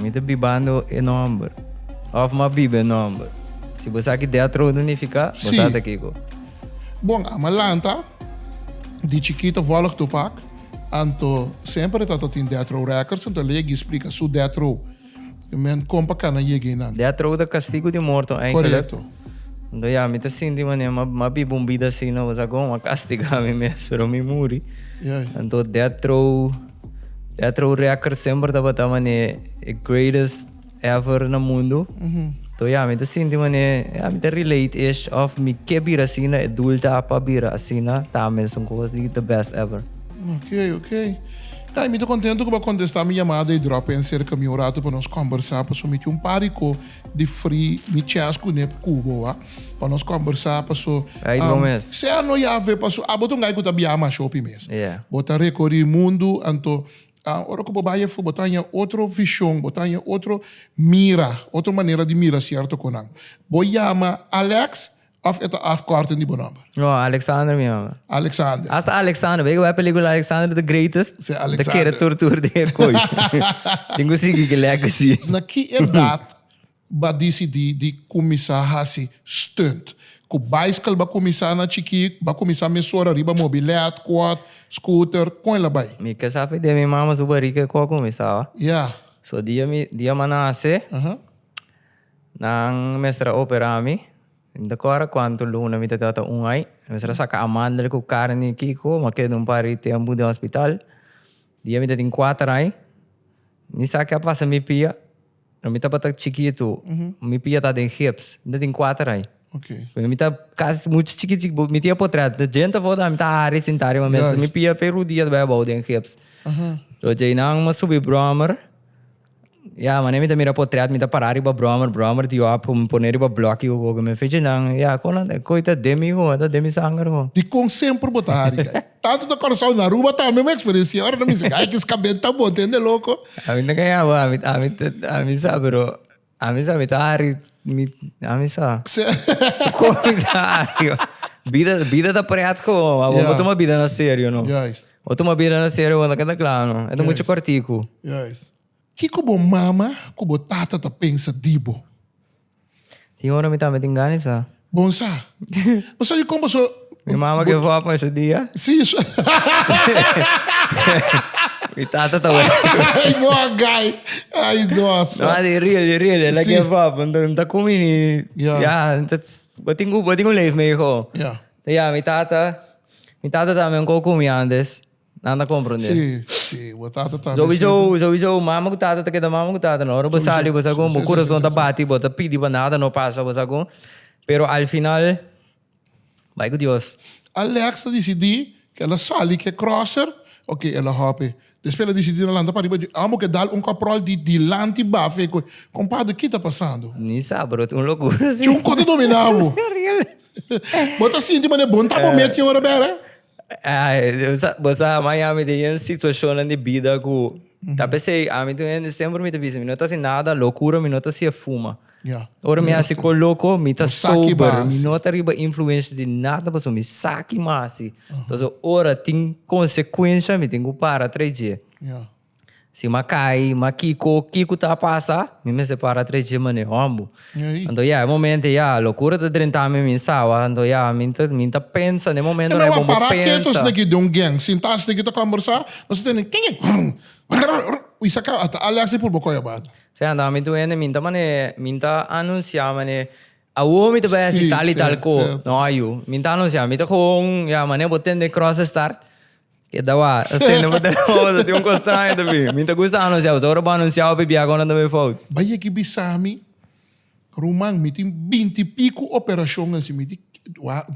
Mi ta bibando e nomber. Of m'a biba e nomber. Si bo sa ki dea trodo nifica, bo Sí. sa ta kico. Bon, a m'a lanta di chikito vòlg Tupac, anto semper tata tin death row records, anto el a yega i splica su death row. E men con pa cana yega einan. Death row ta castigo di morto eindelijk. Correcto. Anto ya, mi ta sinti manera m'a m'a biba un bida asina, bo sa con? M'a castiga mi mes, pero mi muri. Juist. Anto death row. E a trou rekker semper tabata mane e greatest ever na mundo. To ya mi ta sinti mane ya mi ta relate ish of mi ke bira asina e doel ta pa bira asina ta mesun cos di the best ever. Oké, oké. Kai, mi ta contento cu bo a contesta mi llamada y drop in cerca mi un rato pa nos combersa, pasobra mi tin un par di co. di fri mi chest cu ne cubo a pa nos combersa paso sea no yabe paso abo ta un guy cu ta bia masha hopi mes bo ta recori mundo anto ora cu bo bay efo bo ta haya otro vision bo ta haya otro mira otro manera di mira cierto conan bo yama Alex. Of e ta afkorting di bo nòmber? No, Alexander mi ora. Alexander. Hasta Alexander. Wei ku e pelikula Alexander the Greatest? Sí, Alexander. Ta kere tur tur den e koi. Tin ku sigui ki legacy. Na ki edat b'a disidí di kuminsá hasi stunt? Ku bicycle b'a kuminsá na chikí? B'a kuminsá mesora riba mobilèt, quad, scooter? Kon el a bai? Mi ke sa pidi mi mama su barika e kua kuminsá. Ya. So dia mi dia m'a nase. Aha. Nan mester a operá mi. Mi ta kòrda kuantu luna mi ta tabata un ai. Mi mester a saka amandel ku karni kiko, mi a keda un par di tempu den hospital. Dia mi ta tin kuater ai, mi sa ke a pasa mi pia. Ora mi tabata chikitu, mi pia ta den gips. Mi ta tin kuater ai. Pasobra mi ta kasi muchu chikit chikit. Bo mi tin e potret. Te djenta afó ta mi ta hari sinta riba mesa. Mi pia ta e rudia ta bai abou den gips. Djei nan mi a subi bròmer. Ya, mane mi ta mira potret, mi ta pará riba brommer, brommer di op, mi pone riba blòki ku gogo. Mi fichi nan, ya, kon nan, koi ta den mi ho, ta den mi sanger ho. Dikon semper bo ta hari kai? Tantu na Kòrsou, na Aruba tambe mi eksperensiá ora nan bisa kai, ki skabel ta bon, ta hende loko. Ami no kai abo, ami, ami, ami sa, pero ami sa mi ta hari, mi, ami sa. Kon mi ta hari? Bida, bida ta pret ko, abo bo tuma bida na serio, no. Juist. Bo tuma bira na serio bo ta keda kla no? E ta mucha kortiku. Juist. Kiko bo mama ku bo tata ta pensa di bo? Tin ora mi tambe tin gana di sa. Bon sa. Bo sa di kon paso. Mi mama ke bo a pensa di ya? Si. Mi tata ta wak. Ay no a gai. Ay no a sa. No, di real, di real. Ela ke bo a pensa. Nta kumi ni. Ya. Ya, bo tin ku bo tin ku leef mi hijo. Ya. Ya, mi tata. Mi tata tambe un koko mi antes. Nan ta comprende. Sí, sí. Bo tata tambe. Sowieso, sowieso mama ku tata ta keda mama ku tata no. Ora bo sali bo sa ku bo kurason ta bati, bo ta pidi pa nada no pasa, bo sa ku. Pero al final bai ku Dios. Alex ta disidi ku el a sali ku e crosser o ku el a hopi. Despues el a dicidi ta lanta pariba di amo cu a dal un caprol di dilanti baf e cu, Compadre, ki ta pasando? Ni sa, bro, tin un locura así. Tin un cos ta domina bo. Bo ta sinti manera bo no ta bo mes tin ora bera? Bo sa, Miami tin un situacionnan di bida cu tal bes ey, ami tin un hende siempre mi ta bisa, mi no ta haci nada locura, mi no ta hacia fuma. Yeah. Ora mi hasi ko loko, mi ta sober, mi no ta riba influencia di nada pasobra mi sa ki mi hasi. Entonces ora tin consecuencia mi tin ku para atrás dje. Yeah. Si mi a kai, mi a kiko, kiko ta pasa, mi mester para atrás dje manera hòmber. Ei. Anto ya e momento ei ya lokura ta drenta mi, mi sa wak, anto ya mi ta mi ta pensa na e momento ei bo mi pensa. Para keto esnan aki den un gang, sinta esnan aki ta kòmbersá, nos ta tende, kiki, rrrr, rrrr, ui sa ka, ata Alex i purba kòi abata. Sey anda mi tu hende minta mane minta anuncia mane awor mi ta bai haci tal y tal co no a yu minta anuncia mi ta gewoon ya mane bo tende cross a start keda wak a stende bo telefoon tin un cos straño ta bin mi ta gusta anuncia pues ora bo anuncia hopi biaha con a ta bay fout. Bay aki bisami ruman mi tin binti y pico operacion a haci mi tin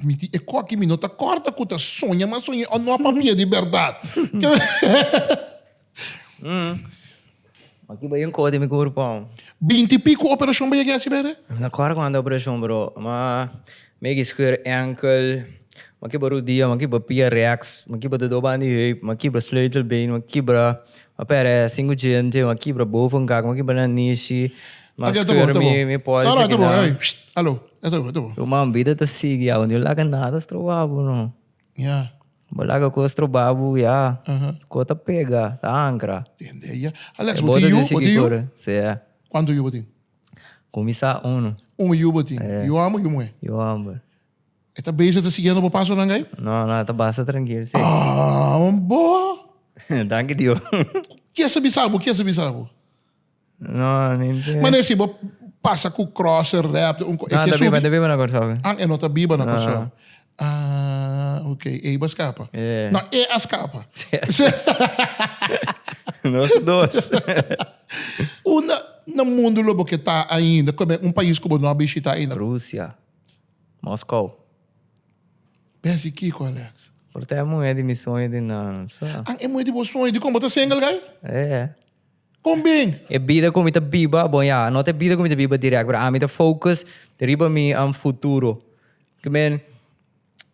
mi tin e coki mi no ta corta cu ta soña mas soña o no a papia di berdad. Aki bai un cosa di mi curpao. Binti pico operacion bay a gesi bere? No me acorda cuanta operacion bro. Ma mi a gescheurd enkel, mi a kibra rodilla, mi a kibra pia rex, mi a kibra de dos banda di heup, mi a kibra sleutelbeen, mi a kibra, mi a pere cinco diente, mi a kibra bovenkak, mi a kibra na nishi, mi a scheurd mi pols aki na. Ok, ta bon, ta bon. Ey, shtt, alo. Ey, ta bon, ta bon. Ruman, bida ta sigui, awe no laga nada stroba bo no. Ya. Bo laga cu es trobabu ya. Cu ta pega, ta ancra. Tende ya. Alex, bo tin yu? Bo tin yu? Si, ya. Cuantu yu bo tin? Cu mi sa, uno. Un yu bo tin. Yu homber, yu muher? Yu homber. E ta bezig ta siguiendo bo pasonan gay? No, no, e ta basta trankil, si. Aah, bo! Danki Dios. Cu kier sa bisa bo? Kier sa bisa bo? No, ni idea. Mane si bo pasa ku crosser rap, un ko- e No, ke ta biba, subi. ta biba na Kòrsou. ke. Ah, e no ta biba na No. Kòrsou. Ah, ok. Eiba a skapa. Yeah. No, e a skapa. Nos dos. Unda na mundu lo bo ke ta ainda? Kua ben un pais ku bo no a bishita ainda? Rusia. Moskou. Besi kiko, Alex? Por ta e muhé di mi sueño di nan. Sa? An e muhé di bo sueño, dikon bo ta single guy? Eh. Con bin? E bida cu mi ta biba, bon ya, no ta e bida cu mi ta biba direct, pero ami ta focus riba mi am futuro. I mean,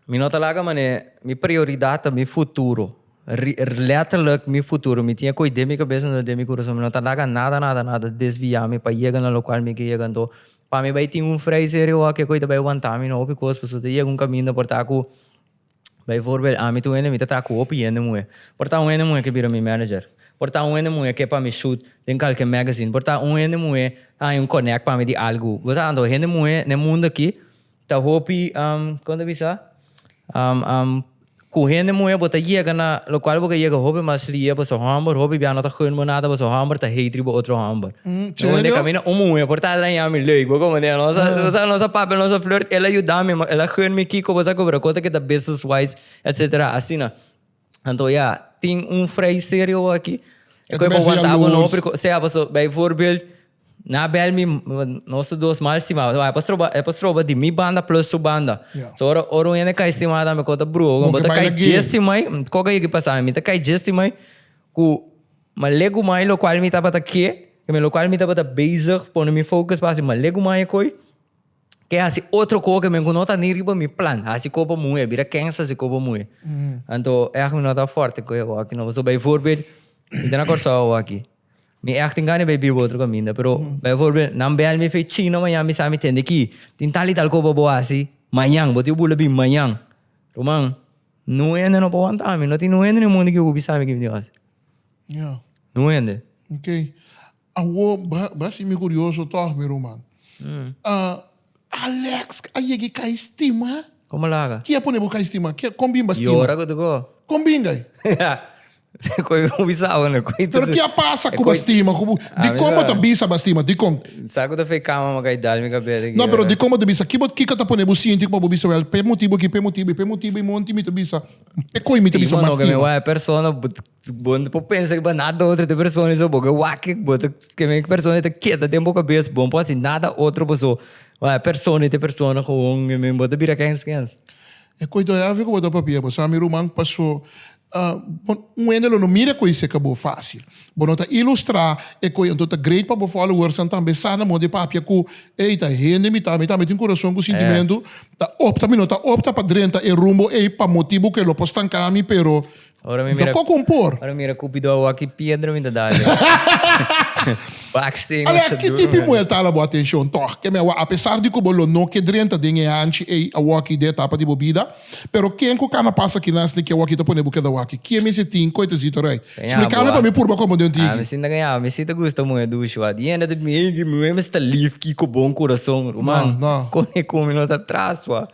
mi no ta laga mane mi prioridad ta mi futuro, letterlijk mi futuro. Mi tin e coi den mi cabeza anto den mi curason. Mi no ta laga nada, nada, nada desvia mi pa yega na locual mi ke yega. Anto, pa mi bay tin un vrij serio wak, e coi ta bay wanta mi na hopi cos, pasobra ta yega un caminda por ta cu. Bay voorbeeld, ami ta un hende mi ta traha cu hopi hende muhe. Por taha un hende muhe ke bira mi manager. Por taha un hende muhe ke pa mi shoot den calke magazine. Por taha un hende muhe haña un connect pa mi di algu. Bo sa anto, hende muhe n'e mundo aki ta hopi, um, como ta bisa? Um, um, cu hende muhe bo ta yega na locual bo ke yega hopi mas lia, bo su homber hopi bia no ta gun bo nada, bo su homber ta hatri bo otro homber. Mm, serio? Donde camina un mujer por ta araña mi leuk, bo como de nos nos nos papel nos flirt, él ayuda mi, él gun mi kiko bosa cobra cota que ta business wise, etcétera, así na. Anto ya, tin un vrij serio bo aki. Eko bai wanta bo no pri sea paso bai voorbeeld na bel mi nos dos mal stima, so a pas troba a pas troba di mi banda plus su banda. So ora ora un hende kai stima dame kota bru, bo ta kai jestimai, koke yeki pasa mi ta kai jestimai ku. Ma legu mai lokual mi tabata ke, mi lokual mi tabata bezig pone mi focus pa hasi, ma legu mai e koi ke hasi otro ko ke men ku no ta ni riba mi plan, hasi ko pa muhe, a bira kensa hasi ko pa muhe. Anto èg mi no ta fòrte ku e wòkina. Pasobra bay voorbeeld, mi ta na Kòrsou awo'aki, mi èg tin gana bay biba otro kaminda, pero bay voorbeeld nan bèl mi fe China mañan mi sa mi tende ki tin tal i tal ko pa bo hasi mañan, bo tin bula bin mañan. Ruman. Nu hende no por wanta mi. No tin un hende ni un munde ki hopi sabe kibidi hasi. Ya. Un hende. Ok. Awor, bra si mi curioso tog, mi ruman. Alex, a yega i kai stima? Como laga? Ki a pone bo kai stima? Con bimba stima? Yora cu tucu. Con bingay? Koe ku bo bisa awe no. Pero ke a pasa ku bo stima? Dikon bo ta bisa bo a stima? Dikon? Sa ku ta fe kama maka i dal mi kabes aki. No, pero dikon bo ta bisa? Kiko ta pone bo sinti ku pa bo bisa wèl? P'e motibu aki, p'e motibu i p'e motibu i monti mi ta bisa. P'e koi mi ta bisa mas stima? Stima no, ke mi wak e persona, bo no por pensa ku nada otro di e persona i so. Bo ke wak e, bo ta, ke mi e persona i ta keda den bo kabes. Bo no por hasi nada otro bo so. Wak e persona i ta e persona gewoon. Bo ta bira kèns kèns. E koi todavia ku bo ta papia? Bo sa mi ruman paso Uh, bon, un hende lo no mira koe seka bo fácil. Bo no ta ilustrá e koe, anto ta great pa bo followersnan tambe sa na modo di papia ku, ey, ta hende mi ta, mi tambe tin kurason ku sintimentu, ta opta, mi no ta opta pa drenta e rumbo ey pa motibu ku e lo por stanká mi, pero doko ku un por. Ora mi mira Kupidó awor ki piedra mi ta da alí. Baksteen lo sa duru. Alea, ki tipi di muhel ta hala bo atenshon tòg? Kemi awor, apesar di ku bo lo no ke drenta den e hanchi ey awor ki den etapa di bo bida, Pero ken cu cana pasa aki naast ni ki awaki ta pone bu keda awaki? Kie mi si tin cu e ta zito rei? Splica mi pa mi purba como den tigi. Ami si ta gaña bo. Mi si ta gusta muhe dushi wak. Di hende ta bin hey ki muhe mester lief ki cu bon curason. Ruman, con e cu mi no ta tras wak.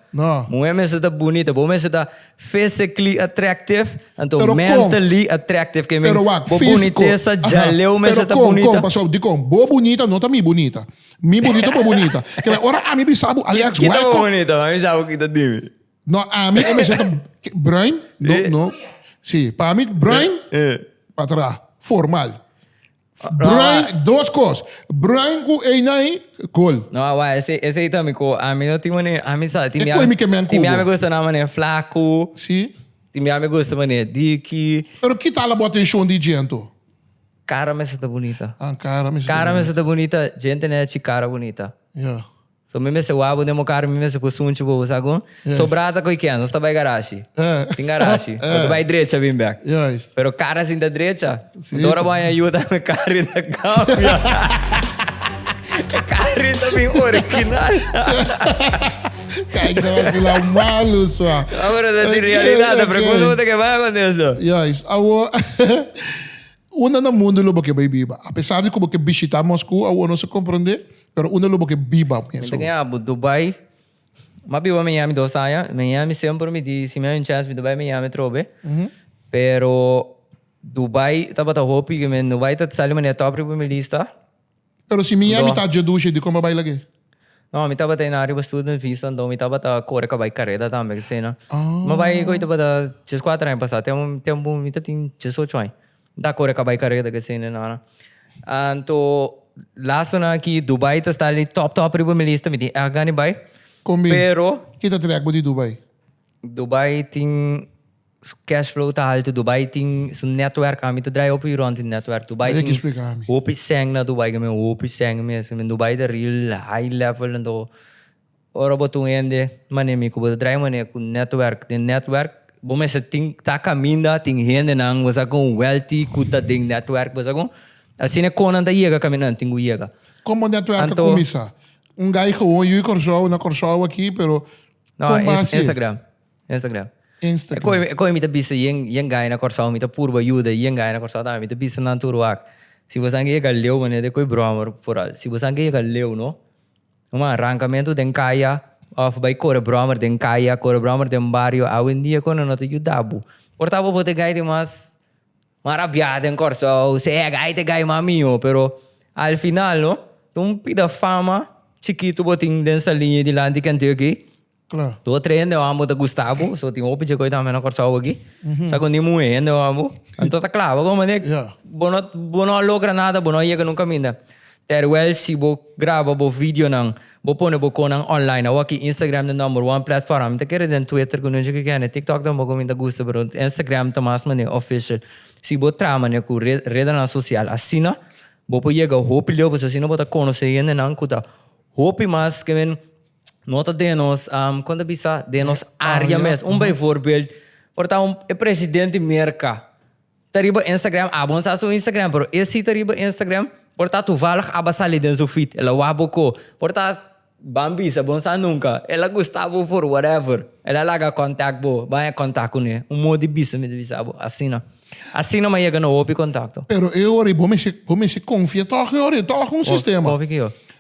Muhe mester ta bunita. Bo mester ta physically attractive anto mentally attractive. Ke mean bo bunitesa djaleu mester ta bunita. Pero con, con, con, pasobra di con? Bo bunita no ta mi bunita. Mi bunito bo bunita. Kila ora ami bisa bo Alex why Kita bo kom bonito, ma mi sa bo kita dimi. No ami e mester ta ke- bruin no Eh. no si pa mi bruin Eh. patra formal. Bruin Rawa. dos kos bruin ku eina ei gol. No a wai ese ese ta mi ko ami no tin mane ami sa tin E koi mi ke men tin mi kubo. ami gusta na mane flaku Si tin mi ami gusta mane diki. Pero ki ta la bo atenshon di djento? Cara mester ta bunita. Ah, cara mester ta bonita. Cara mester ta bonita, djente ne chi cara bonita. Ya. So mi mester wak bo den bo kara, mi mester kusu un chi bo usa gun. Yes. So brata koe ken, nos ta bai garashi. Eh. Tin garashi. Eh. Nos ta bai drecha bin bek. Juist. Pero kara sin ta drecha. Si. Ora bo a haña yuta mi kara bin ta kambia. E kara bin ta bin original. Kijk nou wat ze nou malu zwaar. Ah, pero dat is Oké, realidad. oké. Pregunta mo te ke bai kon desdo. Juist. Awo. Unda na mundu lo bo ke bai biba? Apesar di ku bo ke bishitá Moskou, awor nos a komprondé, pero unda lo bo ke biba mes? Mi ta den abo Dubai, mi a biba Miami dos aña. Miami semper mi di si mi a hay un chèns mi ta bai Miami atrobe, pero Dubai tabata hopi, Dubai ta sali manera tòp riba mi lista. Pero si mi yami ta djedushi di como a bai lag'e? No, mi tabata e na riba student visa, enton mi tabata core ca bai careda tambe, k'sei no. Mi a bai koe tabata djes kuater aña pasa, tem tempo mi ta tin djes ocho aña. Mi ta core ca bai careda k'sei no, no, no. Anto lazo nan aki Dubai ta sta li top top riba mi lista, mi tin èk gana di bai, pero. Ki ta trèk bo di Dubai? Dubai tin su cash flow ta alto Dubai tin su netwerk ami ta draya hopi rond di netwerk Dubai tin hopi sèn na Dubai ke men hopi sèn mester men Dubai ta real high level anto ora bo ta un hende manera mi ku bo ta draya manera ku netwerk den netwerk bo mester tin ta kaminda tin hendenan bo sa kon wèlti ku ta den netwerk bo sa kon asi ne konan ta yega kaminda tin ku yega. Kon bo netwerk ta kuminsa un guy gewon yu di Kòrsou na Kòrsou awor aki pero. No, Kon base? Instagram. Instagram. Instagram. E kon mi ta bisa yen yen gaya na Kòrsou mi ta purba yuda yen gaya na Kòrsou tambe mi ta bisa nan tur wak. Si boso anke yega leu manera di koe broma por al. Si boso anke yega leu no man rankamentu den kaya of bai kore broma den kaya kore broma den bario awendia kono no ta yuda bo. Por tabatin bo ta gaya di mas. Mara a biaha den Kòrsou, se hèga ai te gai mas mihó, pero al final no, ta un pida fama chikitu bo tin den Saliña dilanti di kèntiu akí. Kla. Dos tres hendenan bo ta gusta bo, so tin hopi dje koe tambe na Kòrsou akí. Sa ku ni muhé hendenan bo. Anto ta kla, bo komo manera bo no bo no a logra nada, bo no a yega nun kaminda. Terwel si bo graba bo videonan, bo pone bo konan online awaki, Instagram ta number one platform. Mi ta kere den Twitter ku nunchi ke kende, TikTok tampoco mi ta gusta, pero Instagram ta mas mane official. Si bo traha mane ku red redenan social asina bo por yega hopi leu pasobra asina bo ta konosé hendenan ku ta hopi mas ke men no ta den nos kon ta bisa den nos área mes. Un beivoorbeeld por ta un e presidente Merka. Ta riba Instagram, abo no sa su Instagram, pero e si ta riba Instagram, por ta tuvalg aba sali den su feed, el a wak bo ko, por ta ban bisa, bo no sa nunka, el a gusta bo for whatever, el a laga contact bo, baña contact cu ne, un modo di bisa mi ta bisa bo, asina, asina mi a yega na hopi contacto. Pero e ora y bo mester, bo mester confia tog e ora, tog un sistema. Confia cu yo.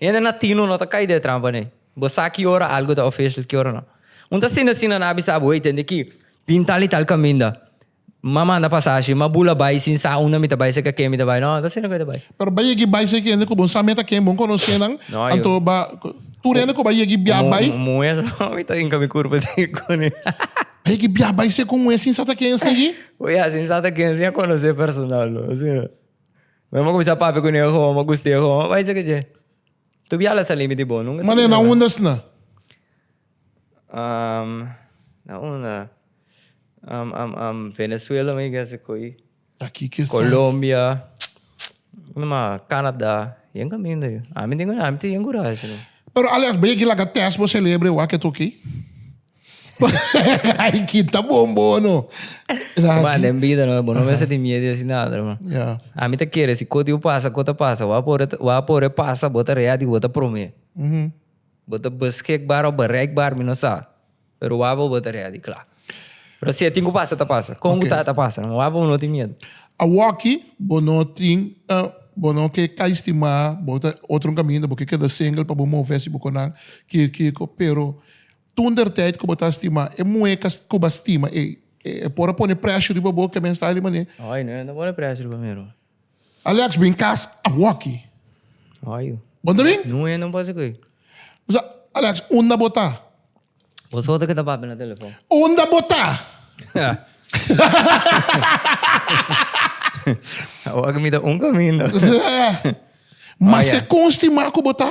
Hende na tino no ta cay den e trampa ne. Bo sa ki ora algo ta official ki ora no. Un ta sina sina na bisa bo, hey tende ki bin tal y tal caminda. Ma manda pasashi, ma bula bay sin sa aunda mi ta bay, seca ken mi ta bay. No, no ta sina cu e ta bay. Pero bay yegi bay seki hende cu bo no sa meta ken bo conoce nan, No, anto yo. ba tur hende cu bay yegi bia Como bay. muhe sa no mi ta inca mi curpa den e cone. A yegi bia bay secu un muhe sin sa ta ken esnigi. Oye, a sin sa ta ken sin a conoce personal no. Asina. Wen bo cuminsa papia cu neho homo, guste homo, bay sa caje. Tu bial a salimi di bo, nunca salimi di bo. Mane na unda sna? Um, na unda? Um, um, um, Venezuela mi guess e coi. Aki ke sa. Colombia, unda ma, Canada, yen caminda yu. Ami tin, ami tin yen curashi. Pero Alex, bay aki laga test bo celebre wak e toki. Ay ki ta bon bono. Kuma den bida no, bo no mester tin miedo di hasi nada, hermano. Yeah. Ami ta kere si kotiu pasa, ko ta pasa, bo a por, bo a por e pasa, bo ta readi, bo ta prome. Bo ta beschikbaar of bereikbaar, mi no sa, pero wabobo bo ta readi kla. Pero si e tin ku pasa ta pasa, kon ku ta ta pasa, hermano, wabobo no tin miedo. Awoki bo no tin, bo no ke kai stima, bo ta otro kaminda, bo ke keda single pa bo move hasi bo konan, kiko, kiko, pero. Toentertijd ku bo ta stima e mueca ku bo a stima ei, e por a pone prèshur riba bo ke mester di manera. Oi, no ta pone prèshur riba mi ruma. Alex, bin kas awoki. Oi. Bo ta bin? No, e no pasa ku ei. Mi sa, Alex, unda bo ta? Bo so ta ke ta papia na telefon. Unda bo ta? Awoki mi ta un kaminda. Maske kon stima ku bo ta?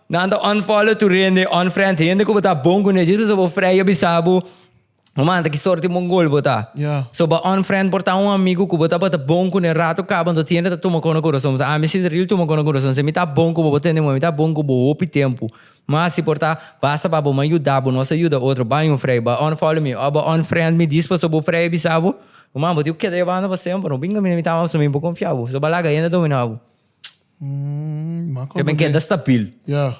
Nan ta unfollow tur hende, unfriend hende cu bo ta bon cune. Djis pasobra bo freyo bisa bo, bo manda ki stor tin mongol bo ta. Ya. So bo a unfriend por ta un amigo cu bo tabata bon cune. Rato caba anto tiende ta tuma cono curason. Pasobra ami si real tuma cono curason. Si mi ta bon cu bo, bo tende moe. Mi ta bon cu bo hopi tempo. Mas si por ta, basta pa bo. Mi a yuda bo, nos a yuda otro. Bai un freyo, bai unfollow mi. Of bo a unfriend mi djis pasobra bo freyo bisa bo, ruman, bo tin cu keda yo banda pa semper. No bin caminda mi tamba pasobra mi bo confia bo. Pasobra bo a laga hende domina bo. Ke men keda stabil. Ya.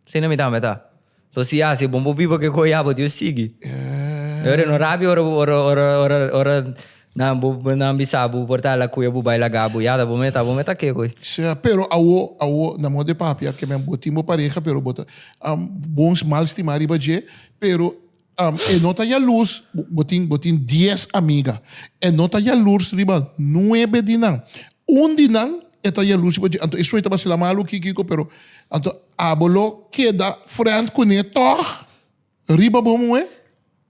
Asina mi tambe ta. To si ya asi bon bo biba ke koe ya bo Dios sigui. Ya. Ora no rabia ora ora nan bo nan bisa bo por ta la kuya bo bai laga bo yada bo me ta bo me ta ke koe. Sea pero awo awo nan mor de papia ke men bo tin bo pareha pero bo ta bon mal stima riba dje pero Um, e no ta yalurs, bo, bo tin, bo tin dies amiga. E no ta yalurs riba nuebe di nan. Un di nan e ta yalurs riba dje. Anto e sueño ta basela malu, ki, kiko, pero anto abo lo keda friend kuné tòg riba bo muhé?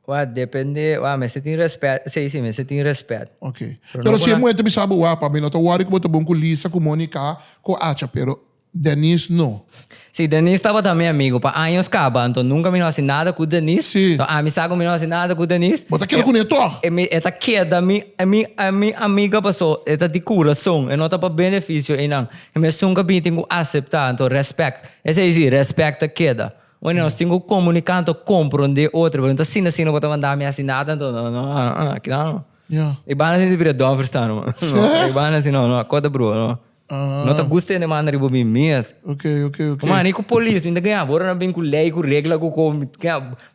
Wak, depende, wak, mester tin rèspèt, sí, sí, mester tin rèspèt. Ok. Pero no Pero si e kuna. muhé ta bisa bo, wak, pa mi no ta wòri ku bo ta bon ku Lisa, ku Monika, ku Acha, pero Denise no. Si, Denise tabata mi amigu pa años caba, anto nunca mi no haci nada cu Denise. Si. No, ami sa cu mi no haci nada cu Denise. Bo ta keda cun'e tog. E mi, e ta keda mi, e mi, e mi amiga paso e ta di curason, e no ta pa beneficio einan. E mi esun cu bitin cu acepta, anto respect. Esey si, respect ta keda. Bueno, nos tin cu comunica, anto compronde otro, pero no ta asina asina bo ta manda mi haci nada, anto no, no, aa, aki nan no. Ya. E banda si mi ta bira Don Verstaano, man. No, e banda si no, no, a kota broer, no. No ta gusta hende manda riba mi mes. Okay, okay, okay. Kuma ni ku polis, mi ta gaya bora na bin ku lei, ku regla, ku ko.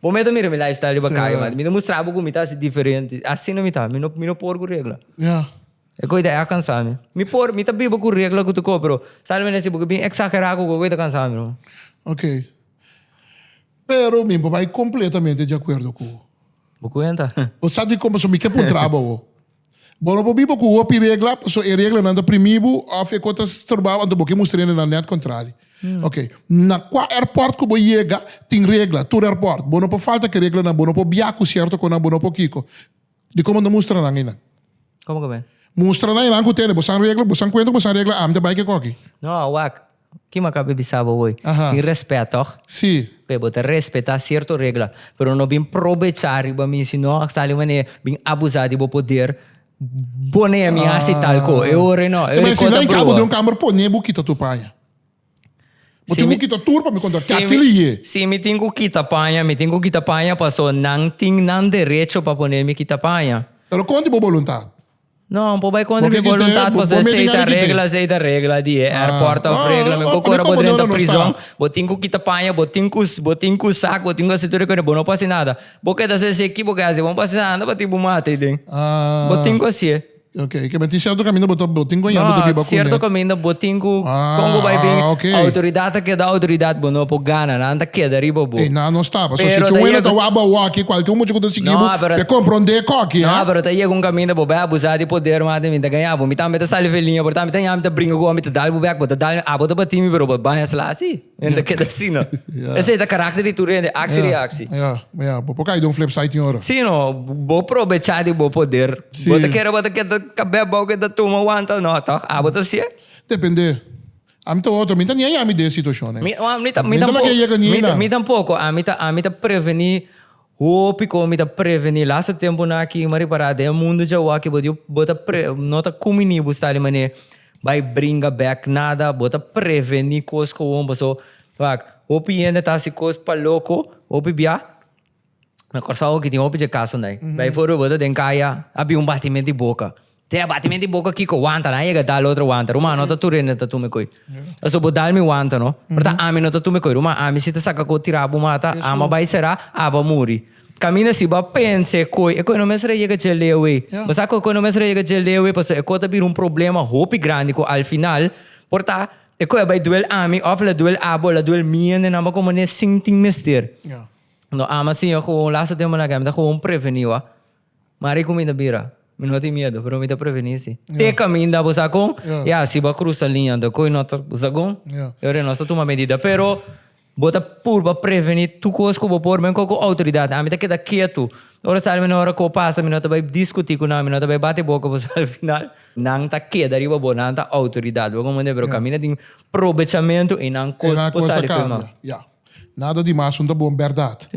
Bo meta mira mi lifestyle riba kaya, mata. Mi ta mustra bo ku mi ta hasi diferente. Asina mi ta, mi no, mi no por ku regla. Ya. E ko i ta e a kansa mi. Mi por, mi ta biba ku regla ku tu ko, pero sa lo mi ta hasi bo ku bin eksagerá ku ko, e ko i ta kansa mi. Okay. Pero mi bo bai kompletamente di akuerdo ku bo. Bo kuenta. Bo sa di kon pasobra mi ke puntra bo. Bo no por biba cu hopi regla paso e reglanan ta primi bo of e co ta stroba bo anto bo ke mustra hende nan net contrari. Ok, na cua airport cu bo yega tin regla, tur airport, bo no por falta cu e reglanan, bo no por bia cu cierto conan, bo no por kico. Dico bo ta mustra nan eynan? Como cu me? Mustra nan eynan cu tene, bo sa regla, bo sa cuenta cu bo sa regla, ami ta bay ke coki. No, wak, Ki maka be bisa bo hoy? Aha. Tin respet toch? Sí. P'e bo ta respetá cierto regla, pero no bin probechá riba mi, si no hasta di manera bin abusá di bo poder pone a mi haci tal co. E ora no, e Te ora mester cota na inca bo broa. den un kamer pone bo kita tur paña. Bo tin ku kita tur pa mi konta Si mi- kafil i ye. Si mi tin ku kita paña, mi tin ku kita paña paso nan tin nan derecho pa pone mi kita paña. Pero konta i bo boluntat? No, bo bai kontra mi boluntat pasobra esei ta regla, esei ta regla di e airport ta op regla. Men ku ku ora bo drenta prison, bo tin ku kita paña, bo tin ku bo tin ku sak, bo tin ku hasi tur e kos, bo no por hasi nada. Bo keda sa esei ki bo ke hasi, bo no por hasi nada, anda bati bo mata ei den. Bo tin ku hasié. Okay, ke men tin sierto kaminda bo ta bo tin ku aña bo ta biba ku. No, sierto kaminda bo tin ku kon bo bai bin outoridat ta keda outoridat bo no por gana, nan ta keda riba bo. Ei nan no staba. So si ke un hende ta wak bo awor aki, kualke un mucha ku ta. No, pero- te comprende koki, No, eh? pero ta yega un kaminda bo bai abusa di poder mas den mi ta gaña bo. Mi tambe ta sali feliña por ta mi ta ña mi ta bringa ku bo mi ta dal bo bek bo ta dal mi abo ta bati mi pero bo baña sla asi. Mi ta keda asi no. Yeah. Esei ta karakter di tur hende aksi reaksi. Ja, ja, bo por kai don flip side tin ora. Si no, bo probecha di bo poder. Si. Bo ta kere bo ta keda kabet bou keda tuma wanta no tok abo ta siye. Depende. Ami ta otro, mi ta ña yami den situacionnan. Mi, oh, mi, ta, mi, Mientras tampoco, que llega ni mi, ta- na. mi tampoco, a mi ta, a mi ta preveni Hopi con mi ta preveni laso temponan aki mari para den mundo dje awaki bo djo bo ta pre no ta cumi ni bo sta di mane bay bringa bek nada bo ta preveni cos cohoon paso wak hopi hende ta haci cos pa loco hopi bia na Corsou aki tin hopi dje casonan bay for bo ta den caya a bin un batimen di boca. Te a bati mente i boca kico wanta, nan a yega dal otro wanta, ruma, no ta tur hende ta tume coy. Pasobra bo dal mi wanta, no? Pero ta ami no ta tume coy, ruma, ami si ta saca coy tira bo mata, ama a bai sera, aba muri. Caminda si, bo a pensa e coy, e coy no mester a yega dje leewei. Bo sa cu e coy no mester a yega dje leewei pasobra e coy ta bira un problema hopi grandi cu al final por ta e coy a bai duel ami of la duel abo o la duel mi hende nan bo a coma ne sin tin mester. No, ama sin, yo gewoon laatste temponan aki ami ta gewoon preveni, wak. Mari ku mi ta bira. Mi no tin miedu, pero mi ta prevení si te kaminda bo sa kon, ya, si bo a krusa liña ta koe nota bo sa kon, i ora nos ta tuma medida. Pero bo ta purba prevení tur kos ku bo por, men ku outoridat. Ami ta keda ketu. Ora sa almeno ora koe pasa mi no ta bai diskutí ku nan, mi no ta bai bati boka ku sa al final nan ta keda riba bo, nan ta outoridat, bo komprende'e? Pero kaminda tin probechamentu i nan kos por sali koe mal. Nada di mas un ta bon berdad.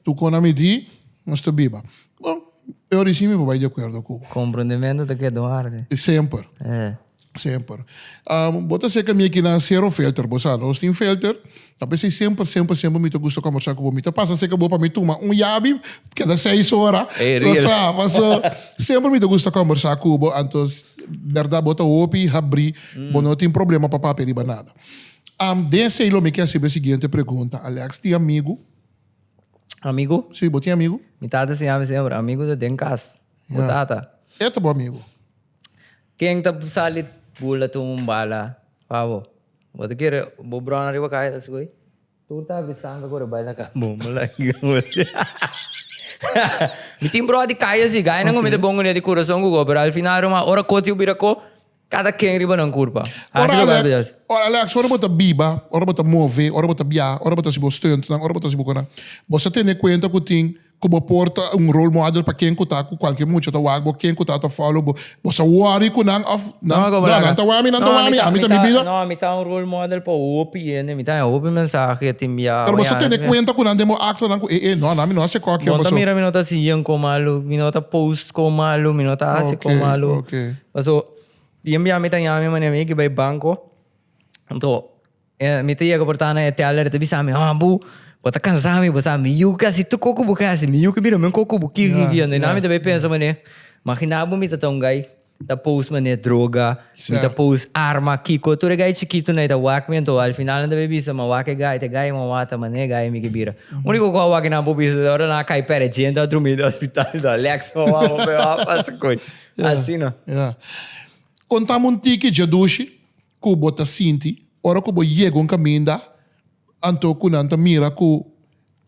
Tu con ami di nos ta biba. Bon, e ora isi mi por bai di acuerdo cu bo. Comprendimento ta keda un harde. E semper. Semper. Bo ta seca mi aki na Zero Filter. Bo sa, nos tin filter. Ta pesey semper, semper, semper mi ta gusta conversa cu bo. Mi ta pasa seca bo pa mi tuma un yabi keda seis ora. Bo sa, paso semper mi ta gusta conversa cu bo. Anto berdad bo ta hopi habri. Bo no tin problema pa papia riba nada. Am, den esei lo mi ke hasiba e siguiente pregunta. Alex tin amigu? Amigu? Si, bo tin amigu? Mi tata enseña mi semper, amigu ta den kas, bo Ya. tata. E ta bo amigu. Ken ta sali bula tuma un bala pa bo? Bo ta kere bo brona riba kaya ta sigue? Tur ta habri sanga cu rebai na ca. Bon mala higa mora. Mi tin broa di calle asi, gainan cu mi ta bon cu ne di curason cu co, pero al final ruma ora cotiu bira co, cada ken riba nan curpa. Hasi loke a bias. Ora Alex, ora bo ta biba, ora bo ta move, ora bo ta biaha, ora bo ta hasi bo stuntnan, ora bo ta hasi bo conan, bo sa tene cuenta cu tin. Ku bo por ta un role model pa ken ku ta ku kualkier mucha ta wak bo ken ku ta ta follow bo bo sa worry ku nan of nan no nan ta wami nan ta wami ami ta mi bida. No ami ta un role model pa hopi hende mi ta haya hopi mensahe ya tin biaha pero bo sa tene kuenta ku nan den bo act nan ku e e no nan mi no a se kokio paso. Bo ta mira mi no ta si yen kon malu mi no ta post kon malu mi no ta hasi kon malu paso tin biaha mi ta yami mane mi ke bai banko. Mi ta yega por ta na e teller e ta bisa mi, ah bo bo ta kansa mi bo sa mi yu kasi tur kos ku bo kasi mi yu ke bira men kos ku bo ki ki ki ando na mi ta bay pensa mane magina bo mi ta ta un guy ta pos mane droga mi ta pos arma kiko tur e guy chikito na e ta wak mi anto al final nan ta bay bisa man wak e guy te guy man wata mane e guy mi ke bira uniko kos a wak nan por bisa ta ora nan a kai pere dje nan a drumi den hospital do Alex man wak bo pes wak pasa koch asina. Konta mi un tiki djadushi. ku bo ta sinti ora ku bo yega un kaminda anto ku nan ta mira ku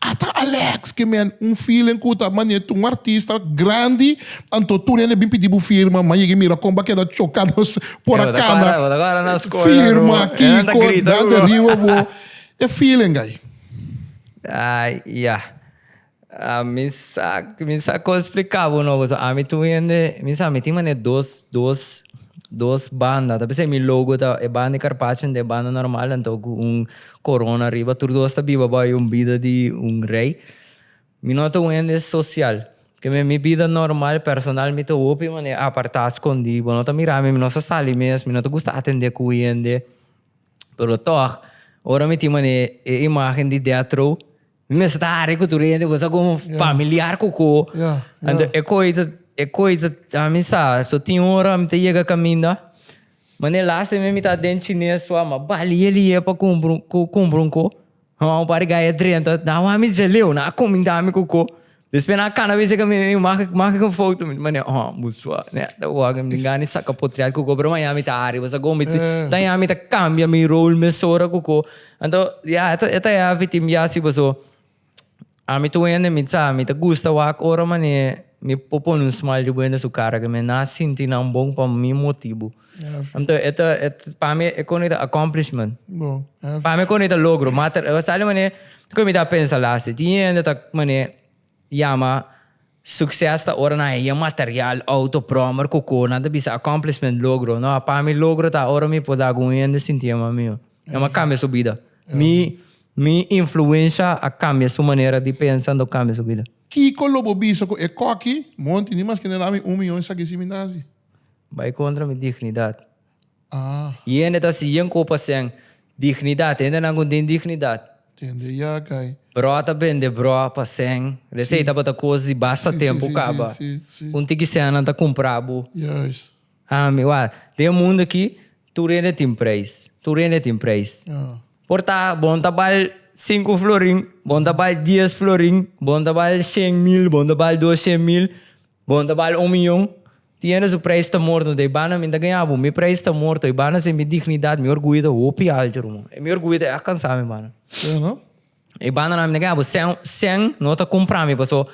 a ta Alex ke men? Un feeling ku ta manera tur un artista grandi anto tur hende a bin pidi bo firma m'a yega mira kon bo a keda choka nos por a kana firma Kiko nan ta riba bo e feeling ai. Mi sa mi sa con explica bo no boso ami tu hende mi sa mi tin manera dos dos dos banda ta p'esei mi logo ta e banda di carpaccio dent'e banda normal anto cu un corona riba tur dos ta biba bai un bida di un rey mi no ta un hende social keme mi bida normal personal mi ta hopi manera aparta escondi bo no ta mira mi mi no sa sali mes mi no ta gusta atende cu hende pero tog ora mi tin manera e imagen di detro. Mi mester ta hari cu tur hende, boso como familiar cu co. Anto e coi ta, e coi ta, ami sa, so tin ora mi ta yega caminda. Mane e laatste mes mi ta den chines so, ma bali e lie pa cumpra un, cu cumpra un co. Hau un par di gaya drenta, na wami jaleo, na comindami cu co. Después na cana dice que mi maak maak een foto mi mane oh musua ne ta waga mi gani saca potreal cuco pero mañana mi ta ari was go mi ta ya mi ta cambia mi rol mesora cuco anto ya eta eta ya fitim ya si boso a mi tu ende mi sa mi ta gusta wak ora mane mi po pone un smile riba ende su cara que mi na sinti nan bon pa mi motibu Heavy. Anto e ta, e, ta- pa mi e koni ta accomplishment. Bo, heavy. Pa mi koni ta logro, ma ter, e sali mane, koi mi ta pensa last day. Tin hende ta mane yama succes ta ora nan haya material, auto, prommer, koko, nan ta bisa accomplishment, logro. No, pa mi logro ta ora mi por da ku un hende sinti e mami yo. Nan mi a cambia su bida. Mi, mi influencia a cambia su manera di pensa, anto cambia su bida. Kiko lo bo bisa ku e koki, monti, ni mas kende dami un miyon esaki si mi ta hasi? Bai kontra mi dignidat. Y hende ta si yen ku pasen dignidat. Hendenan ku no tin dignidat. Tende yakai. Broa ta bende broa pasen. Esei tabata kos di basta tempu kaba. Un tiki senan ta kumpra bo. Ami wak. Den e mundu aki tur hende tin preis. Tur hende tin preis. Por ta bon ta bal sinku florin, bon ta bal dies florin, bon ta bal shen mil, bon ta bal doshen mil. Bon ta bal un miyon. Tiene su prijs ta morto dei bana mi ta gaña bo mi prijs ta morto i bana sin mi dignidad mi orguyo ta hopi alto ruman e mi orguyo ta alcansa mi bana i bananan mi ta gaña bo cen cen no ta compra mi paso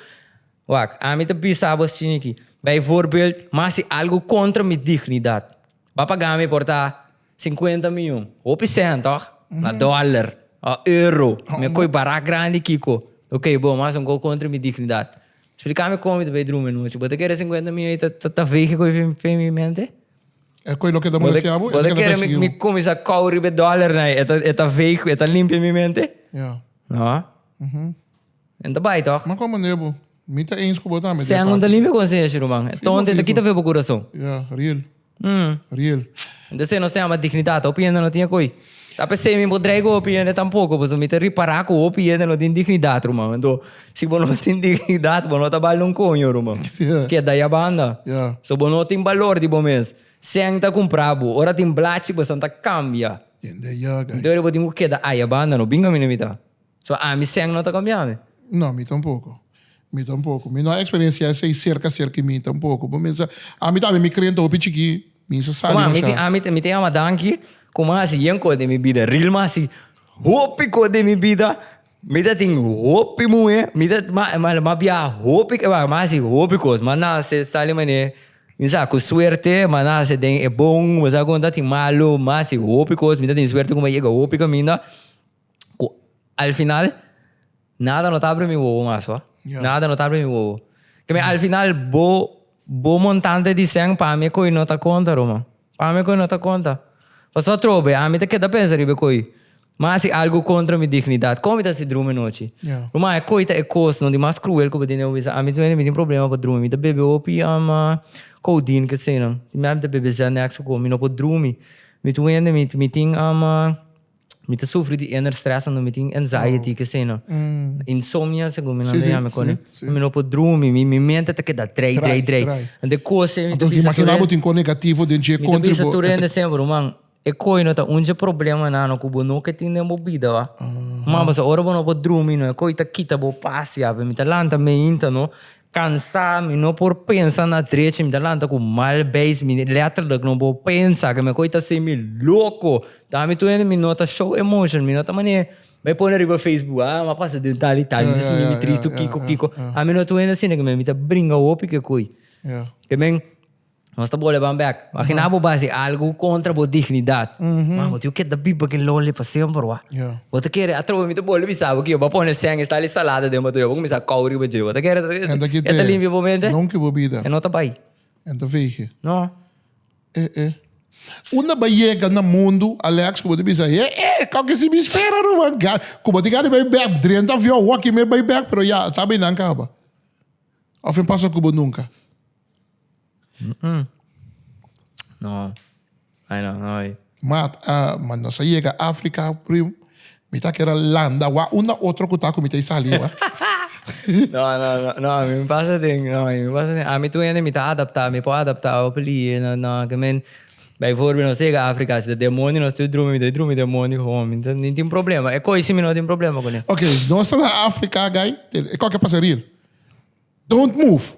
wak ami ta bisa bo asina aki bijvoorbeeld mas si algo contra mi dignidad ba paga mi por ta. Sinkuenta mion. Hopi sehan toch? Na dollar. O euro. Mi a koe barak grandi kiko. Ok bo, mas un gou kontra mi dignidad. Splika mi kon mi ta bay druma e nochi. Bo ta kere e sinkuenta mion ei ta vege koe fen mi mente? E koe loke ta mora siña bo, e loke ta persiguiu. Bo ta kere mi kuminsa kau riba e dollarnan ei, e ta vege, e ta limpia mi mente? No. Nan ta bai tok. Ma kon manera bo. Mi ta eens ku bo tambe. Seng un ta limpia konsenshi ruman. E tonta e ta kita fe bo kurason. Ya, riel. Riel. Entonces si nos ta yama dignidad hopi hende no tin e ko'i. Ta p'esei mi bo dreig'o hopi hende tampoco pasobra mi ta ripara ku hopi hende no tin dignidad ruman. Anto si bo no tin dignidad bo no ta bal un koño ruman. Keda ya banda. So bo no tin balor di bo mes. Seng ta kumpra bo. Ora tin blachi bo esnan ta kambia. Entonces bo tin ku keda aya banda no bin kaminda mi ta. So ami sèn no ta kombiá mi? No, mi tampoko. Mi tampoko. Mi no a eksperensiá esei serka serka i mi tampoko. Bo mensa, ami ta habi mi krent hopi chikí, mi insa sali masha. Kuma, ami, ami, mi ta yama danki kuma hasi yen kos den mi bida. Ril ma hasi hopi kos den mi bida. Mi ta tin hopi muhé, mi ta, ma, ma, ma biaha hopi, ma, ma hasi hopi kos. Ma nase Stanley Mané, mi sa ku suerte, ma nase den e bon, bo sa kon ta tin malu, ma hasi hopi kos. Mi ta tin suerte ku mi a yega hopi kaminda. cu al final nada no ta abri mi wowo mas hoor. Yeah. Nada no ta abri mi wowo. Que mi al final bo, bo montante di sen pa mi coi no ta conta, Roma. Pa mi coi no ta conta. Paso trobe, a mi te queda pensa riba coi. Ma si algo contra mi dignidad, como mi ta si drumi nochi? Yeah. Roma, e coi ta e cos no di mas cruel cu bo tin den un misa. A mi mi tin problema pa drumi. Mi ta bebe hopi um, codeine kesenan. Mi a mi ta bebe Xanax cu mi no por drumi. Mi tu hende mi, mi tin um, Mi ta sufri di inner stress anto mi tin anxiety, keseno. Insomnia segun mi nan ta yama koni. Mi no por drumi, mi mente ta keda drai, drai, drai. Anto e kosnan mi ta bisa tur hende. Anto imagina bo tin kon negativo den dje kontra bo. Mi ta bisa tur hende semper, ruman, e koi no ta un dje problemanan nan ku bo no ke tin den bo bida wak. Kuma pasobra bo no por drumi no e koi ta kita bo pas ya. Mi ta lanta meinta no. Cansá, mi no por pensa na drecha, mi ta lanta cu mal beis, mi letterlijk no por pensa, ke mi koe ta haci mi loco, ta mi tuende mi no ta show emotion, mi no ta mane bay pone riba facebook, ah mi a pasa den tal y tal, mi ta sinti mi triste o kiko kiko, ami no tuende asina, ke mi ta bringa hopi ke koe, ke men. Nos ta bole ban bek. Imagina bo bai si algu kontra bo dignidat. Man, bo tin ku keda biba ki loli pa semper wak. Bo ta kere, atrobe mi ta bole bisa bo ku yo ba pone sèn i sali salada den motor, yo ba kuminsá kou riba dje. Bo ta kere e ta limpia bo mente? E no ta bai. No. Unda bo a yega na mundu, Alex, ku bo ta bisa, e e, kau ke si mi spera ruman gana, ku bo tin gana di bai bek drenta avion, wak i mes bai bek, pero ya, ta bay nan kaba? Of e no pasa ku bo nunka? No, ai no, no oi. Mat, ah, ma nos a yega Africa, prim, mi ta kere landa wak un na otro ku ta ku mi ta e sali wak. No, no, no, no, a mi mi pasa den, no, a mi mi pasa den. Ami tur hende mi ta adaptá, mi por adaptá awor pa lihé, no, no, ke men, bay forbi nos ta yega Africa, si ta demonio nos tur drumi, mi ta drumi demonio ho, mi ta, mi tin problema, e koise mi no tin problema kuné. Ok, nos ta na Africa agay, e kòke pasa rir. Don't move!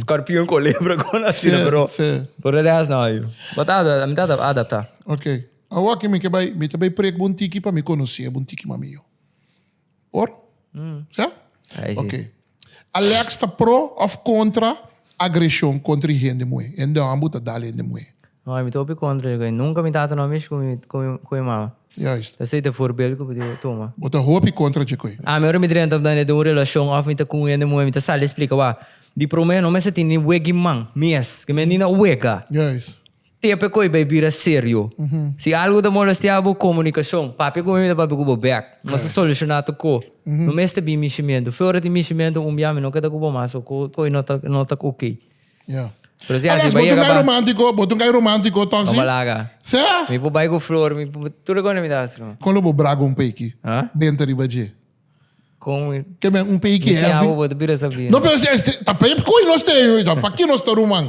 Skorpion ku lebra kon asina pero por de rest no yu. Bo ta adapta, mi ta adapta. Ok. Awoki mi ke bai, mi ta bai prek bo un tiki pa mi konosé bo un tiki mas mihó. Por? Sa? Ai si. Ok. Alex ta pro of kontra agreshon kontra e hende muhé? Hende hombe bo ta dal hende muhé? No, mi ta hopi kontra di koe. Nunka mi tata no a mishi ku mi mama. Juist. Esei ta e forbel ku bo debe tuma. Bo ta hopi kontra dje koe. Ami ora mi drenta na den un relashon òf mi ta ku un hende muhé, mi ta sali splika, Wak, di promé no mester tin ni wegi man, mes, ke mi ni na wega. Juist. Te p'e koe bai bira serio. Si algu ta molestia bo, komunikashon. Papia ku mi, mi ta papia ku bo bèk. Nos ta solushoná tur ko. No mester bin mishimentu. Fe ora tin mishimentu, un bia mi no ke ta ku bo mas òf koe no ta ok. Ya. Pero si Alas, bo ta un kai romántico, bo ta un kai romántico, tòg si? Bo laga. Sa? Mi por bai ku flor, mi por tur loke mi ta hasi. Kon lo bo braga un peiki? Ha? Benta riba dje. Kon mi. Ke men un peiki hevi. Mi siña bo, bo ta bira sabia. No, pero si ta pei koe nos te yu, ta pa ki nos ta ruman.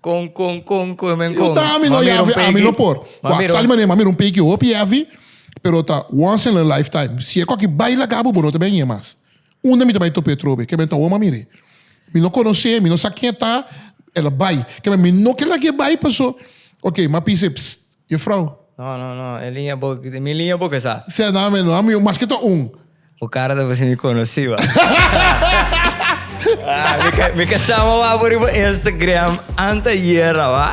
Kon, kon, kon, kon, men kon. Yu ta ami no yavi, ami no por. Wa, sali manera, ma mira un peiki hopi hevi, pero ta once in a lifetime. Si e koki bai laga bo, bo no ta ben ye mas. Unda mi ta bai topa e otro be? Kebe ta woma mi re. Mi no konos'é, mi no sa ken e ta, el a bai. Kebe mi no ke lag'é bai paso, ok, m'ap bis'é, psst, yo frou. No, no, no, e liña bo, mi liña bo ke sa. Sea nan men no, ami maske ta un. Bo kara ta pasin mi konosí ba. Mi ke sa mo wak bo riba Instagram ante ayer a ba.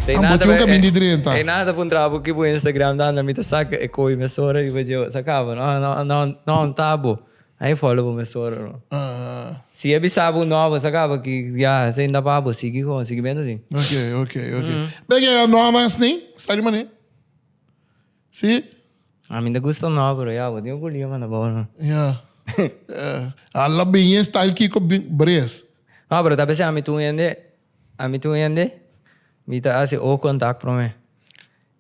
Te nada ta. Ey nada ta puntrabo ki bo Instagram ta anda mi ta sak e koi mesora riba dje, sa kaba. No, no, no, no, tabo. Ai fo lo me sora no. Si e bisabu no bo sakaba ki ya se inda pa bo sigi kon sigi bendo si. Ok, ok, ok. Beke a no mas ni? Sta di mane? Si? A mi da gusta no pero ya bo tin kulia manda bo no. Ya. A la bin e style ki ko bin bres. No pero ta bese a mi tu hende a mi tu hende mi ta asi o contact prome.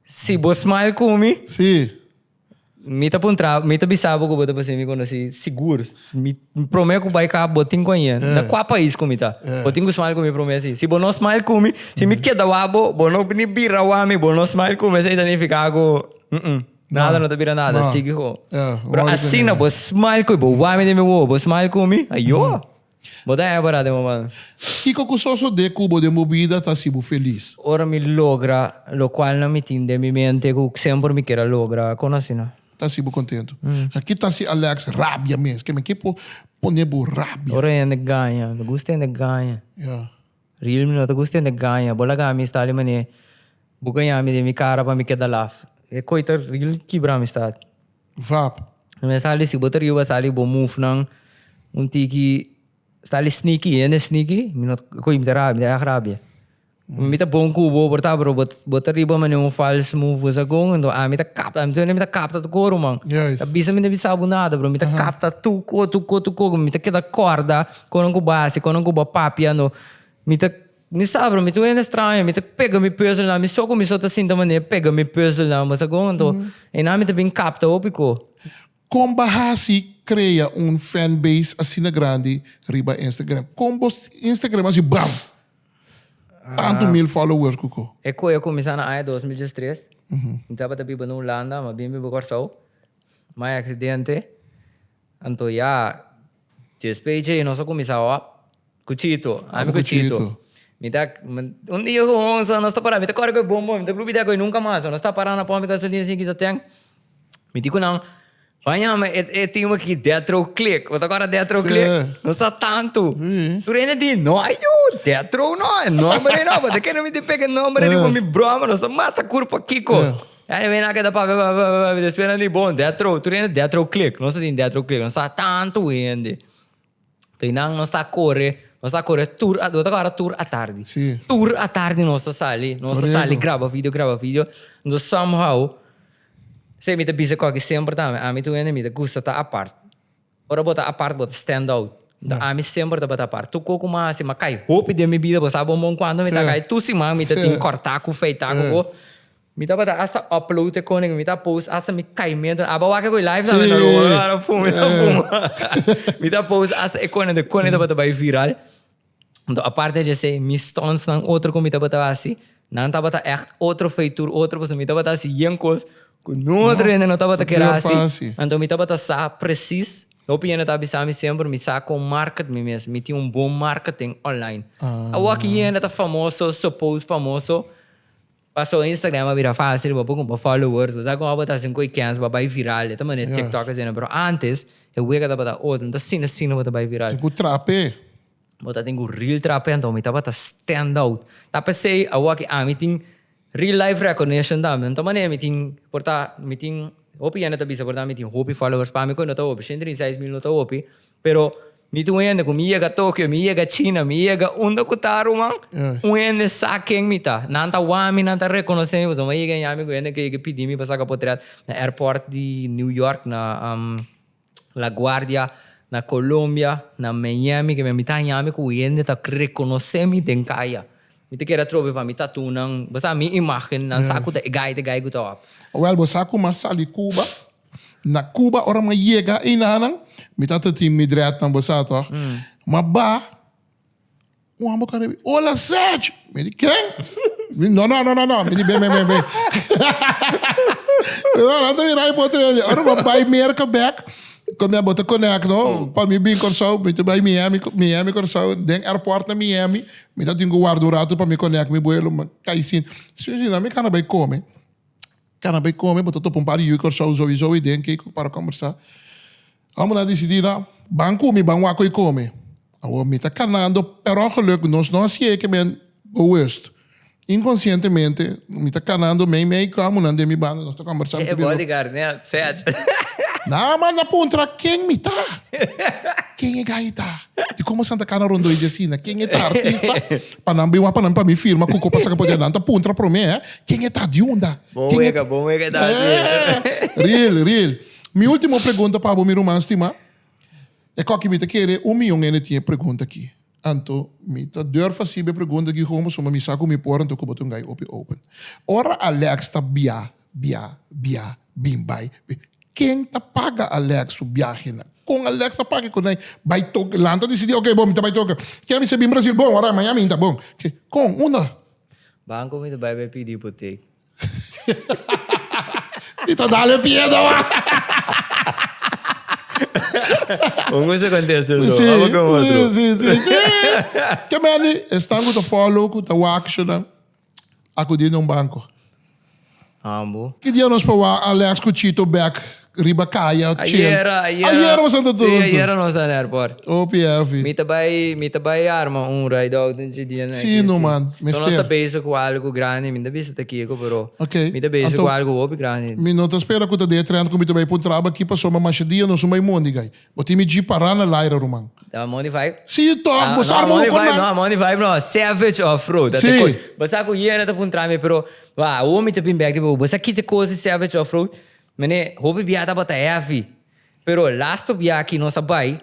Si bo smile ku mi. Si. Mi ta puntra, mi ta bisa bo ku bo ta basei mi konosí. Sigur. Mi promé ku bai kaba bo tin ku a ña. Na kua pais ku mi ta? Bo tin ku smile ku mi promé así. Si bo no smile ku mi, si mi keda wak bo, bo no ni bira wak mi, bo no smile ku mi, esei ta nifiká ku nada no ta bira nada, sigui ho. Pero asina bo smile ku mi, bo wak mi den mi wowo, bo smile ku mi, ayoa. Bo ta happy ra den moman? Kiko ku sosodé ku bo den bo bida ta hasi bo felis? Ora mi logra lokual nan mi tin den mi mente ku semper mi kier a logra, kon asina? Ta hasi bo kontentu. Ki ta hasi Alex rabia mes? Keme ke por pone bo rabia? Ora hende gaña. No gusta hende gaña. Riel mi no ta gusta hende gaña. Bo laga mi sta di manera bo gaña mi den mi kara pa mi keda laf. E koi ta riel kibra amistat. Vap. Mester sali si bo ta riba sali bo move nan un tiki sali sneaky hende sneaky mi no koe mi ta rabia mi ta erg rabia mi ta bon kubo por ta pero bo ta riba mane un false move bo sa kon enton ami ta kap ami ta wene mi ta kapta tur ko ruman ta bisa mi no bisa bo nada pero mi ta kapta tur ko tur ko tur ko mi ta keda korda konan ku basi konan ku bo papia no mi ta Mi sa bro, mi ta wende straño, mi ta pega mi puzzelnan, mi so ku mi so ta sinta manera pega mi puzzelnan, bo sa kon? Anto, einan mi ta bin kapta hopi ko. Kon bo a hasi krea un fanbase asina grandi riba Instagram? Kon bo Instagram hasi bam! Tantu mil followers ku ko? E koe a kuminsá na aña dos mil diestres. Mi tabata biba na Hulanda, mi a bin biba Kòrsou. Mai aksidente, anto ya Despey dje nos a cuminsa hop cu Chito. Ami cu Chito. Mi ta, un dia cu Honso nos ta para, mi ta core cu e bombon, mi ta blubidea cu e nunca mas. Nos ta para na pump e gasolina asina kita ten. Mi di cu nan, bañame e tin aki Detro Click. Bo ta acorda Detro Click? Sí. Nos ta tantu. Tur hende di, no ajo, Detro no, e nomber ei no. Bo ta kere mi di pega e nomber ei di cu mi broma? Nos ta mata curpa, Kiko. Ey men aki ta papia papia papia papia despues nan tin bon death row tur hende death row click nos ta tin death row click nos ta tanto hende tin nan nos ta corre nos ta corre tur a ta abarra tur atardi Si. tur atardi nos ta sali nos ta Correcto. sali graba video graba video do somehow se mi ta bisa koki semper ta ami ami tur hende mi ta gusta ta apart. Ora bo ta apart bo ta stand out. Ta ami semper tabata apart. Tur kos ku mi a hasi mi a kai hopi den mi bida. Bo sa bon bon kuantu mi ta kai tur siman mi ta tin korta ku feita ku bo. Mi tabata hasta upload e kone ku mi ta post hasta mi kaimentu. Aba wak ku e live sa menor bo. Mi ta post hasta e kone. E kone tabata bai viral. Enton aparte di esey mi stuntsnan otro cu mi tabata haci nan tabata echt otro feitur otro pasobra mi tabata haci yen cos cu notro hende no tabata kier haci enton mi tabata sa precies hopi hende ta bisa mi semper mi sa con market mi mes mi tin un bon marketing online awor aki hende ta famoso suppose famoso Paso Instagram a bira facil bo por cumpra followers, bo sa con abo ta haci un coy kens bo a bay viral, e ta manera tiktok asina, pero antes e wega tabata otro, no ta asina asina bo ta bay viral. Tin cu trape. Bo ta tin cu real trape anto mi tabata stand out. Ta pesey awor aki ami tin real life recognition tambe, no ta manera mi tin por ta, mi tin, hopi yende ta bisa por ta ami tin hopi followers, pami coy no ta hopi, ciento y seis mil no ta hopi, Pero mi tin un hende cu mi yega Tokio, mi yega China, mi yega unda cu ta ruman, un hende sa ken mi ta. Nan ta wak mi, nan ta reconoce mi, pasobra mi a yega yami cu hende cu a yega pidi mi pa saca potret na airport di New York, na La Guardia, na Colombia, na Miami, ke mi a mita yami cu hende ta reconoce mi den caya. Mi ta kere trobe pa mi tattoonan, bo sa mi imagen, nan sa cu ta e gai, ta e gai cu ta wak. Wel, bo sa cu mi a sali Cuba, Na Cuba ora mi a yega einanan, mi tata tin mi dread nan bo sa toch, m'a ba, un homber con rebi, Hola Serge! Mi di, Ken? Mi, No, no, no, no, no. Mi di, Ben, ben, ben, ben. Mi ora ta bira bo tres dia. Ora m'a bai Merca bek, con mi abo ta conecto, pa mi bin Curaçao, mi ta bai Miami, Miami, Curaçao. Den airport na Miami, mi ta tin cu warda un rato pa mi connect mi vuelo, m'a cay sin. Sinzina, mi cana bai come. Cana bay come bo ta topa un par di yuy Corsou zowi zowi den key cu para combersa. Amo na dicidi na ban cu mi ban waco y come. Awor mi ta canando perongeluk nos no a siye ke men bewust. Inconscientemente mi ta canando mey mey cu amonan den mi banda nos ta combersa mi ta bira lo. Na a manda puntra ken mi ta. Ken e gaita? Di como Santa Cana Rondó y di asina? Ken e ta artista? Pa nan bin wak pa nan pa mi firma cuco pa saca poder nan ta puntra prome eh ken e ta diunda Bon ken e wega, bon wega ta así. eh real real mi ultimo pregunta pa bo mi ruman stima e coki mi ta kere un miyon hende tin e pregunta aki anto mi ta durf a sibe pregunta aki con pasobra mi sa cu mi por anto cu bo ta un gai hopi open ora Alex ta bia Bia, bia, bin bai, bin. Ken ta paga Alex su biahenan? Kon Alex ta paga e kosnan ei? Bai toke, lanta disidí, oke bo, mi ta bai toke. Ke mi ser bin Brasil bon ora, maña mi ta bon. Ke, kon, unda? Banko mi ta bai bai pidi ipotek. Mi ta dal e pie nomás. Un gusto contesta eso. Sí, Vamos con otro. sí, sí, sí, sí. Ke meni, e stangu ta follow ku ta wak, shunnan. a kudí den un banko. Ambo. Ki dia nos por wak Alex ku Chito bek riba kaya chill? Ayera, ayera. Ayera bo Santo Tonto? Sí, ayera nos ta na airport. Hopi hefi. Mi ta bai, mi ta bai arma un ride out un chi dianan aki. Sí no man, mester. So nos ta bezig ku algu grandi, mi no ta bisa ta kiko pero okay. mi ta bezig ku algu hopi grandi. Mi no ta spera ku ta dia e trènt ku mi ta bai pa un traba aki pasobra masha dia nos un bai mondiga. Bo tin mi dji pará na Lyra ruman. Ta a money vibe. Sí tòg, bo sa arma un konan. No, a money vibe no, savage of road. Ta te kos. Bo sa ku Yera ta puntra mi pero wak a omi ta bin bek di bo. Bo sa ki te kos di savage of road? Mene hopi bia tabata heavy pero last of bia ki nos a bai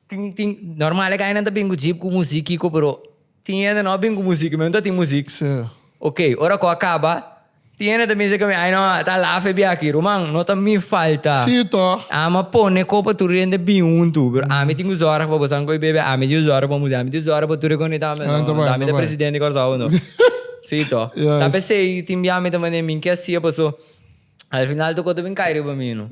tin tin normal e gainan ta bin ku jeep ku muzik kiko pero. Tin hende no a bin ku muzik i mi no ta tin muzik. Oke, ora ku a kaba, tin hende ta bin se ku mi, Ai no, e ta laf e biaha aki. Ruman, no ta mi falta. Ami a pone ko pa tur e hende bin huntu, pero ami tin ku zòrg pa bosan ku e bebe. Ami dio zòrg pa muzik, ami dio zòrg pa tur e konita. No ta mi ta presidente di Kòrsou. Si to. Ta p'esei tin bia mi ta manda e minkia sia, paso. Al final tokó ta bin kai riba mi no.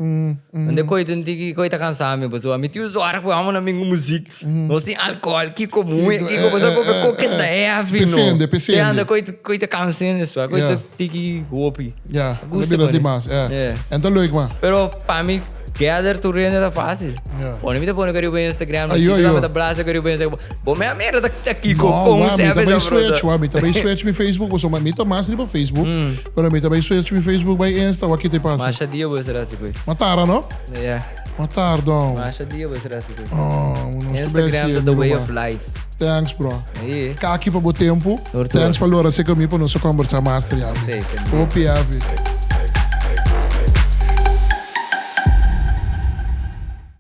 Unda e koi tin tin ki koi ta kansá mi pasobra mi tin un zòrg ku amo na mi un muzik. Nos tin alkohòl kiko muhe kiko pasobra koke koke ta hevi no. Pesende, pesende. Siñanta koi ta koi ta kans'é nespa koi ta tiki hopi. Ya, ta bira dimas, e. Anto luik ma. Pero pa mi. Gather tu rende ta fácil. Yeah. Pone mi te pone caribe Instagram, Ay, yo, yo. ta blase caribe Instagram. Bo me amera ta ta kiko no, con wa, mi ta switch, wa, mi ta bay switch mi Facebook, bo so mi ta mas riba Facebook, mm. pero mi ta bay switch mi Facebook bay Insta, wa kite pasa. Masha dia bo será así, Matara, no? Yeah. Matar, don. Masha dia bo será así. Instagram ta the way of life. Thanks bro. Kaki pa bo tempo. Thanks pa lora se kami pa nos kombersa mas ta yabi. Hopi heavy.